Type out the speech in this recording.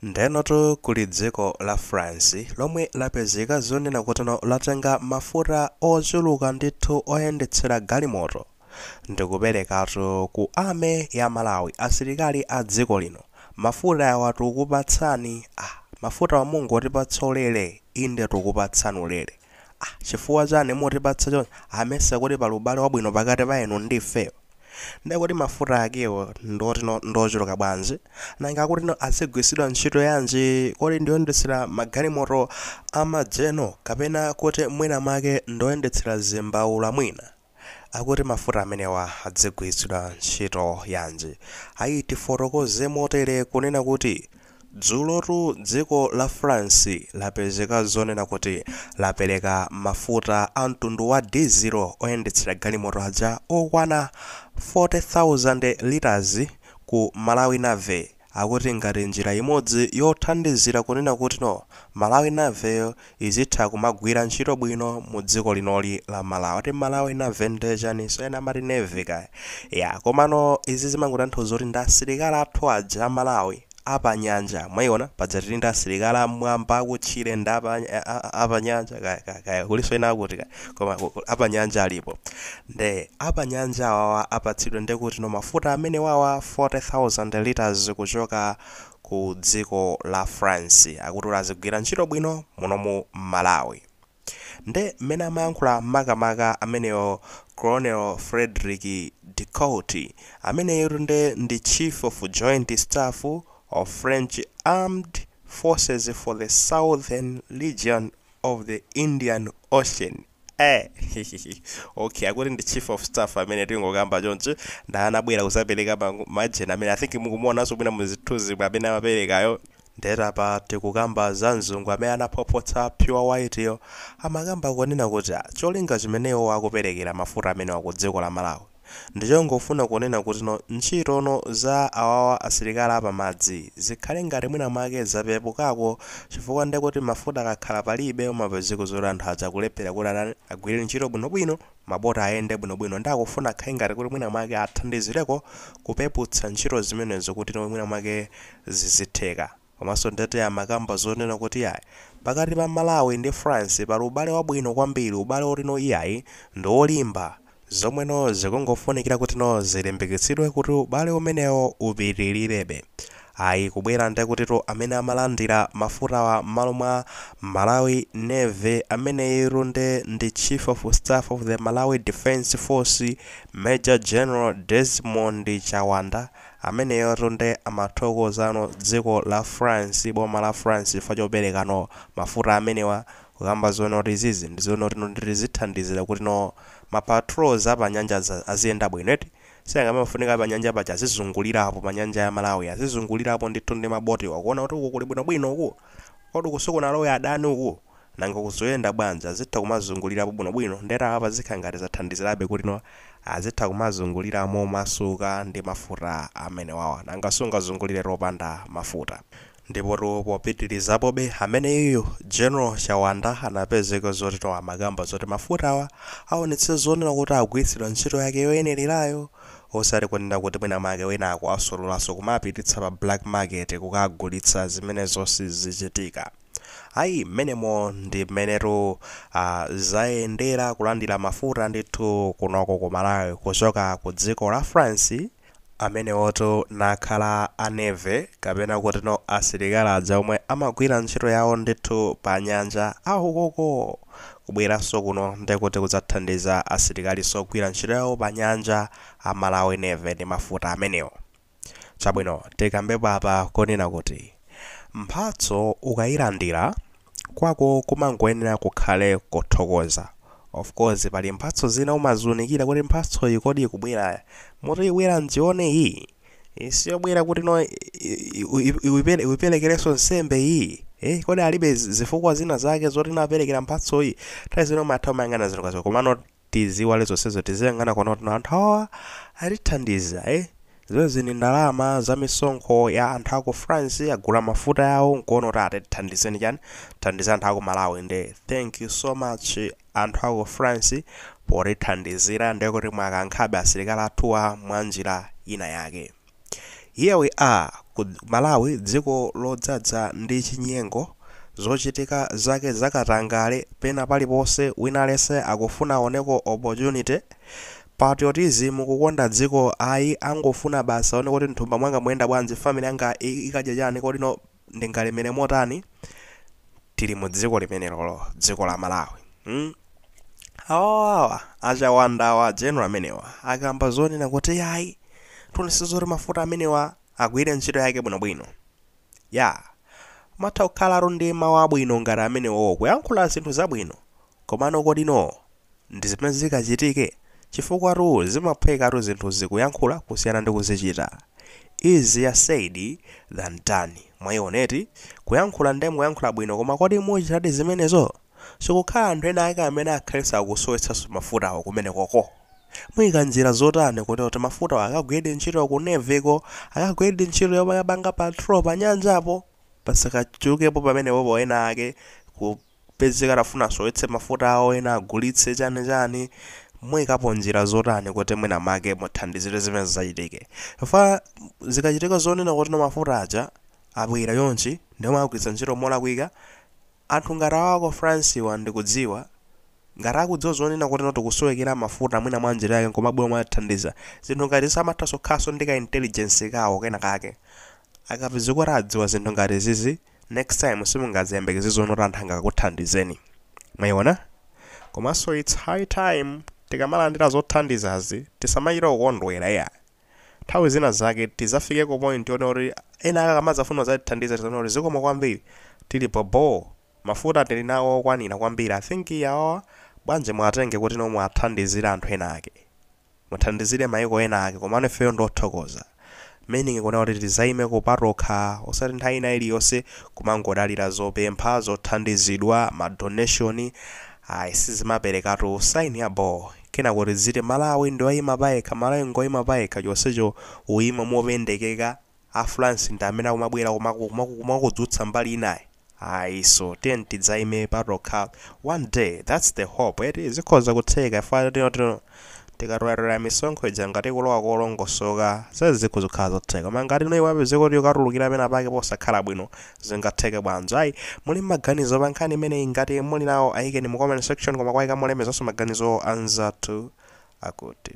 Ndenotu kuli dziko la France lomwe lapezeka zonena kutino latenga mafuta ochuluka ndithu oyendetsera galimoto ndikuperekatu ku army ya Malawi asilikali a dziko lino mafuta awa tukupatsani ah mafutawa mungotipatsa ulere inde tukupatsani ulere ah chifukwa chani mukutipatsa chonchi ah mesa kuti pali ubale wabwino pakati pa inu ndi ifeyo Ndiye kodi mafuta akewo ndiotino ndiochuluka bwanji? Nanga akutino azigwiritsidwa ntchito yanji? Kodi ndioyendetsera magalimoto a ma General kapena kuti mwina mwake ndioyendetsera zimbaula mwina? Akuti mafuta amenewa adzigwiritsidwa ntchito yanji? Ayi tifotokoze motere kunena kuti Dzulotu dziko la France lapezeka zonena kuti lapereka mafuta a mtundu wa dizilo oyendetsera galimoto aja okwana 40,000 litres ku Malawi Navy akuti ngati njira imodzi yothandizira kunena kutino Malawi Navy yo izitha kumagwira ntchito bwino mu dziko linoli la Malawi. Ati Malawi Navy nde chaninso? Ena amati Navy kaya. Yaa, komano izi zimangotanthauza kuti ndi asilikali athu aja a Malawi a pa nyanja, mwaiona? Paja tili ndi asilikali a mmwamba, a kutchire ndi a pa, a-a-a-a pa nyanja kaya, kaya, kaya kulinso ena akuti kaya, koma a pa nyanja alipo. Nde a pa nyanja awawa apatsidwe ndekutino mafuta amenewawa 40,000 litres kuchoka ku dziko la France akuti kuti azigwira ntchito bwino muno mu Malawi. Nde mmene amayankhula makamaka ameneyo Colonel Fredrick Decourt ameneyutu nde ndi Chief of Joint Staff of French Armed Forces for the Southern Region of the indian ocean eh hihihi okay akuti ndi chief of staff amene tingokamba chonchi nda anabwera kuzapereka ma- majeni amenewa i think mukumuonanso mwina muzithunzi amene amaperekayo nde apa tikukamba za mzungu amene anaphwaphwatsa pure white yo amakamba kunena kuti ah, cholinga chimene iwo akuperekera mafuta amenewa ku dziko la malawi Ndichongofuna kunena kutino ntchitono za awawa asilikali apamadzi zikhale ngati mwina mwake zapepukako chifukwa ndekuti mafuta akakhala palibe amapezeka zoti anthu aja akulephera kuti atani agwire ntchito bwinobwino maboti ayende bwinobwino nde akufuna akhale ngati kuti mwina mwake athandizireko kupeputsa ntchito zimenezo kutino mwina mwake zizitheka. Komanso ndetu amakamba zonena kuti iyayi pakati pa Malawi ndi France pali ubale wabwino kwambiri, ubale wotino iyayi ndi wolimba, zomweno zikungofunikira kutino zilimbikitsidwe kuti ubale umenewo upitilirebe. Ayi kubwera ndekutitu amene amalandira mafutawa mmalo mwa Malawi Navy ameneyutu nde ndi Chief of Staff of the Malawi Defence Force Major General Desmond Chawanda, Ameneyotu nde amathokozano dziko la France boma la France chifukwa choperekano mafuta amenewa kukamba zoona kuti izizi ndi zoona kuti zithandizira kuti no ma patrols apa nyanja aja aziyenda bwino eti sinanga amafunika pa nyanja paja azizungulilapo pa nyanja ya Malawi azizungulilapo ndithu ndi ma boat wa kuona kuti uku kuli bwino bwino uku kodi uku sikunalowe adani uku Nanga ku zoyenda bwanji azitha kumazungulirapo bwino bwino nde apa zikhala ngati zathandizirabe kuti no azitha kumazungulira momasuka ndi mafuta amenewawa nanga sungazungulire opanda mafuta ndipotu popitirizapobe ameneyuyu General Chawanda anapezeka zoti no amakamba zoti mafutawa aonetse zonena kuti agwiritsidwa ntchito yake yoyenelerayo osati kunena kuti mwina mwake wina akawasololanso kumapititsa pa black market kukagulitsa zimenezo sizichitika. Ayi, mmenemo ndi mmenetu a, zayendera kulandira mafuta ndithu kunoko ku Malawi kuchoka ku dziko la France, amenewotu kukhala a Navy kapena kutino asilikali aja omwe amagwira ntchito yawo ndithu pa nyanja a ukoko! Kubweranso kuno nde kuti kudzathandiza asilikaliso ogwira ntchito yawo pa nyanja a Malawi Navy ndi mafuta amenewo. Chabwino, tikambepo apa konena kuti mphatso ukayilandira, kwako kumangoyenera kukhale kuthokoza. Of course pali mphatso zina umaziunikira kuti mphatsoyi kodi ikubwera moti ibwera ndione iyi? Iyi siyobwera kuti no uyiperekerenso nsembe iyi? Eh, kodi alibe zifukwa zina zake zoti no aperekera mphatsoyi? Nthawi zina umatha kumayang'ana zinthu ngati komano tiziiwale zonsezo tiziyang'ana kuona kuti anthu awawa atithandiza eh? zimenezi ndi ndalama za misonkho ya anthu aku france agula mafutawo nkuona kuti atithandize ndi chani athandiza anthu aku malawi nde thank you so much anthu aku france potithandizira ndekuti mwakankhabe asilikali athuwa mwa njira ina yake Here we are ku Malawi dziko lodzadza ndi chinyengo, zochitika zake zakatangale pena paliponse wina aliyense akufuna aoneko opportunity, patriotism kukonda dziko ayi angofuna basi aone kuti nthumba mwanga muyenda bwanji, family yanga ikadya chani kodi no ndingalemere motani tili mu dziko limenelolo dziko la malawi mm? awawawa a Chawanda-wa general amenewa akamba zonena kuti yayi tionetsetsa zoti mafuta amenewa agwire ntchito yake bwinobwino ya amatha kukhalatu ndi mawu abwino ngati amenewowo kuyankhula zinthu zabwino Komano kodi no ndi zimene zikachitike? Chifukwatu zimaphwekatu zinthuzi kuyankhula kusiyana ndi kuzichita. Easier said than done. Mwaiona eti? Kuyankhula nde mukuyankhula bwino koma kodi muchitadi zimenezo? Sikukhala anthu ena ake amene akhalenso akusowetsanso mafutawo kumenekoko? Muika njira zotani kotero kuti mafutawo akagwiredi ntchito ku Navy ko, akagwiredi ntchito yomwe akapanga patrol panyanjapo? Pasakachulukepo pamenepo ena ake ku. kupezeka atafuna asowetse mafuta awo ena agulitse chani chani muyikapo njira zotani kuti mwina make muthandizire zimenezi zisachitike chifukwa zikachitika zonena kuti no mafuta aja abwera chonchi ndiye mwagwiritsa ntchito molakwika anthu ngati awa aku France wa ndikudziwa ngati akudziwa zonena kuti no tikusowekera mafuta mwina mwa njira yake nkumabwera mwathandiza zinthu ngati izi amatha kukhalaso ndi ka intelligence kawo kena kake akapezeka kuti adziwa zinthu ngati izizi next time simungaziyembekeze zonena kuti anthu angakuthandizeni mwayiona komanso its high time tikamalandira zothandizazi tisamachita kukondwera iya nthawi zina zake tizafike ku point yonena kuti ena akakamazafuna kuzatithandiza tizanena kuti zikomo kwambiri tili bobo mafuta tili nawo okwanira kwambiri i think awa bwanji mwatenge kuti no mwathandizire anthu ena ake Muthandizire maiko ena ake komano ifeyo ndiothokoza. Meaning kunena kuti tizaimeko patokha osati nthawi ina iliyonse kumangodalira zopempha, zothandizidwa, ma donation ayi sizimaperekatu sign ya bho kenako tiziti Malawi ndioima payekha, Malawi ngoima payekha chonsecho ukuima mopendekeka a france ndi amene akumabwera kumakudzutsa mbali inayi ayiso tiyeni tidzaime patokha one day that's the hope eti zikhoza kutheka chifukwa tikatolera misonkho ija ngati ikulowa kolongosoka izi zikhoza kukhala zotheka koma ngati no ipezeka kuti ikatulukira pena pake posakhala bwino zingatheke bwanji ayi muli maganizo pa nkhani imeneyi ngati muli nawo ayikeni mu comment section koma kwaika molemezanso maganizo anzathu akuti